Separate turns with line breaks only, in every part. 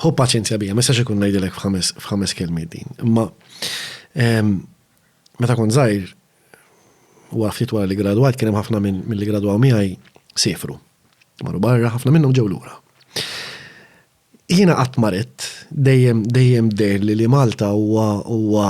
Ħu paċenzja bija, ma jistax ikun ngħidilek f'ħames kelmiet din. Imma ehm, meta kont żgħir u ftit wara li gradwajt kien hemm ħafna minn li gradwaw miegħi sifru. Marru barra ħafna minnhom ġew lura. Jiena qatt marit dejjem dejjem dejjem li li Malta huwa huwa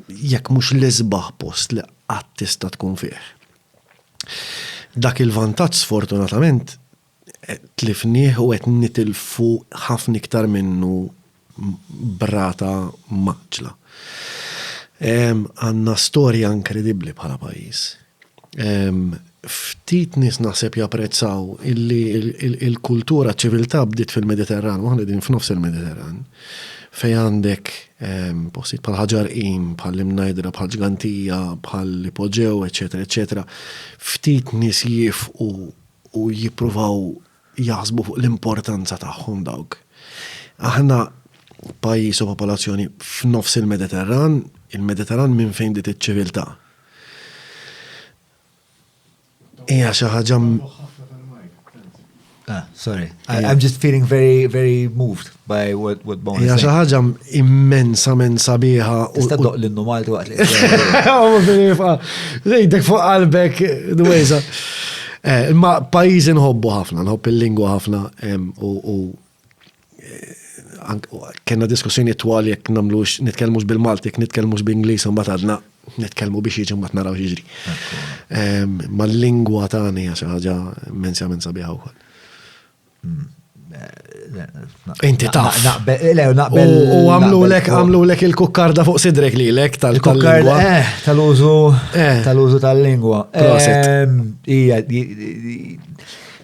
jekk mhux l-isbaħ post li qatt tista' tkun fih. Dak il-vantaġġ sfortunatament Tlifnieh u qed nitilfu ħafna iktar minnu b'rata mgħaġġla. Għandna storja inkredibbli bħala pajjiż. Ftit nies naħseb japprezzaw illi l-kultura, ċ-ċiviltà bdiet fil-Mediterran u aħna qegħdin f'nofs il-Mediterran fejn għandek postijiet bħal Ħaġar Qim, bħall-Imnajdra, bħal Ġgantija, bħall-Ipoġew, eċċetera, eċċetera. Ftit nies jifqu u jippruvaw jaħsbu fuq l-importanza tagħhom dawk. Aħna pajjiż u popolazzjoni f'nofs il-Mediterran, il-Mediterran minn fejn dit iċ-ċiviltà. Hija xi ħaġa Ah, sorry. I, I'm just feeling very, very moved. by what, what Bone Hija xi ħaġa immensament sabiħa. Tista' doq l-innu Malti waqt li. Lejdek fuq qalbek dwejza. Eh, ma pajjiżi nħobbu ħafna, nħobb il-lingwa ħafna u eh, kena diskussjoni twal jekk namlux nitkellmux bil-Malti, nitkellmux bl-Ingliż u mbagħad għadna nitkellmu biex jiġi mbagħad naraw jiġri. Ma l-lingwa tagħni hija xi ħaġa immensament sabiħa wkoll. Inti taf. U għamlu lek, għamlu lek il-kukkarda fuq sidrek li lek tal-kukkarda. Eh, tal-użu, eh. tal-użu tal-lingwa. Ehm, ija,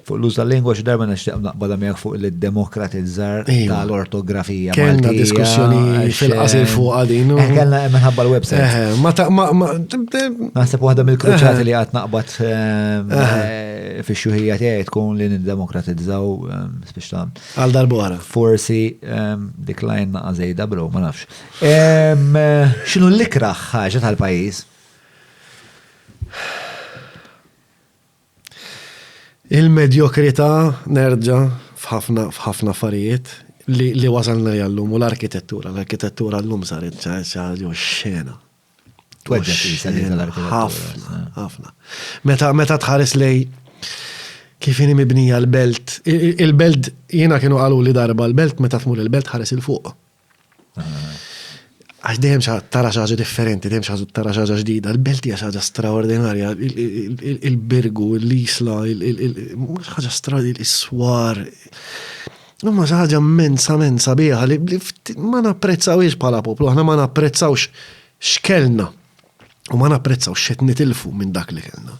fuq l-użu tal-lingwa xi darba nixtieq naqbada miegħek fuq il-demokratizzar tal-ortografija. Kellna diskussjoni fil-qasir eh, fuq għadin. Eh, kellna minħabba l-website. Eh, ma ta' ma. Naħseb waħda mill-kruċati li għad naqbad. Ehm, Fix-xjuħija tiegħi tkun li niddemokratizzaw spiċ ta' Għal darbora. Forsi dik lajn naqa' żejda bro, ma nafx. X'inhu l-ikraħ ħaġa tal-pajjiż? Il-medjokrità nerġa' f'ħafna f'ħafna affarijiet li wasalna jallum u l-arkitettura. L-arkitettura llum saret xi ħaġa xena. Ħafna, ħafna. Meta meta tħares lej kif inhi mibnija l-belt, il-belt jiena kienu qalu li darba l-belt meta tmur il-belt ħares il fuq. Ah. Għax dejjem tara xi ħaġa differenti, dejjem xi tara xi ħaġa ġdida, l-belt hija xi ħaġa straordinarja, il-birgu, l-isla, ħaġa straordinarja, is-swar. Imma xi ħaġa immensament sabiħa li ma napprezzawhiex bħala poplu, aħna ma napprezzawx x'kellna u ma napprezzawx x'qed nitilfu minn dak li kellna.